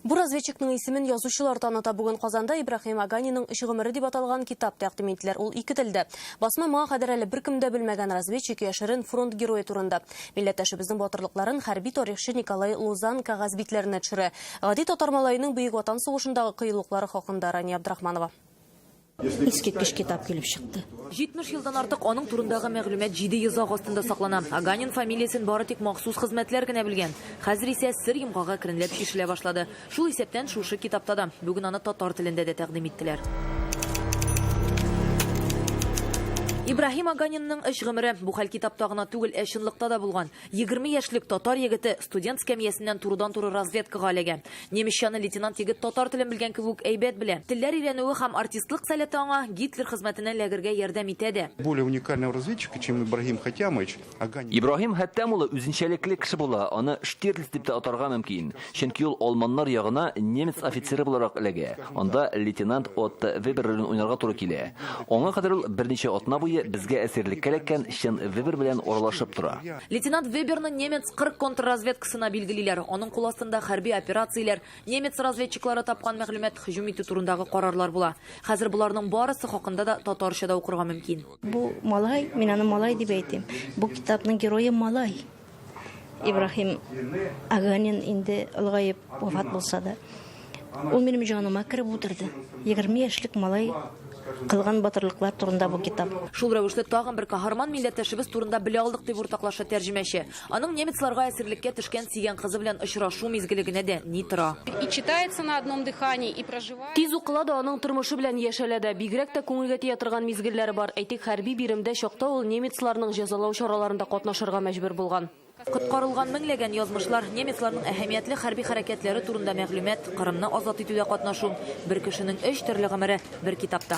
Бу разведчикның исемен язучылар таныта. Бүген Казанда Ибрахим Аганиның өч гомере дип аталган китап тәкъдим иттеләр. Ул ике телдә. Басма моңа кадәр әле беркем дә белмәгән разведчик яшерен фронт герое турында. Милләттәшебезнең батырлыкларын хәрби тарихчы Николай Лузан кәгазь битләренә төшерә. Гади татар малаеның Бөек Ватан сугышындагы кыюлыклары хакында Рания Абдрахманова. Искиткеч китап килеп чыкты. 70 елдан артык аның турындагы мәгълүмат җиде йозак астында саклана. Аганин фамилиясен бары тик махсус хезмәтләр генә белгән. Хәзер исә сер йомгагы әкренләп чишелә башлады. Шул исәптән шушы китапта да. Бүген аны татар телендә дә тәкъдим иттеләр. Ибраһим Аганинның эш гомере бу хәл китапта гына түгел, ә чынлыкта да булган. Егерме яшьлек татар егете студент скамьясеннән турыдан-туры разведкага эләгә. Немецчаны лейтенант егет татар телен белгән кебек әйбәт белә. Телләр өйрәнүе һәм артистлык сәләте аңа Гитлер хезмәтенә эләгергә ярдәм итә дә. Более уникального разведчика, чем Ибрагим Хәтямович, Агани. Ибрагим Хәттәм улы үзенчәлекле кеше була, аны Штирлиц дип тә атарга мөмкин. Чөнки ул алманнар ягына немец офицеры буларак эләгә. Анда лейтенант Отто Вебер ролен уйнарга туры килә. Аңа кадәр ул берничә атна буе безгә әсирлеккә эләккән чын Вебер белән аралашып тора. Лейтенант Веберны немец 40 контрразведкасына билгелиләр. Аның кул астында хәрби операцияләр, немец разведчиклары тапкан мәгълүмат, һөҗүм итү турындагы карарлар була. Хәзер боларның барысы хакында да татарча да укырга мөмкин. Бу, малай, мин аны малай дип әйтим. Бу китапның герое, малай. Ибрахим Аганин инде олыгаеп вафат булса да, ул минем җаныма кереп утырды. 20 яшьлек малай кылган батырлыклар турында бу китап. Шул рәвешле тагын бер каһарман милләттәшебез турында белә алдык, дип уртаклаша тәрҗемәче. Аның немецларга әсирлеккә төшкән сөйгән кызы белән очрашу мизгеле генә дә ни тора. И читается на одном дыхании, и проживает. Тиз укыла да, аның тормышы белән яшәлә дә. Бигрәк тә күңелгә тия торган мизгелләре бар. Әйтик, хәрби биремдә чакта ул немецларның җәзалау чараларында катнашырга мәҗбүр булган. Коткарылган меңләгән язмышлар, немецларның әһәмиятле хәрби хәрәкәтләре турында мәгълүмат, Кырымны азат итүдә катнашу, бер кешенең өч төрле гомере, бер китапта.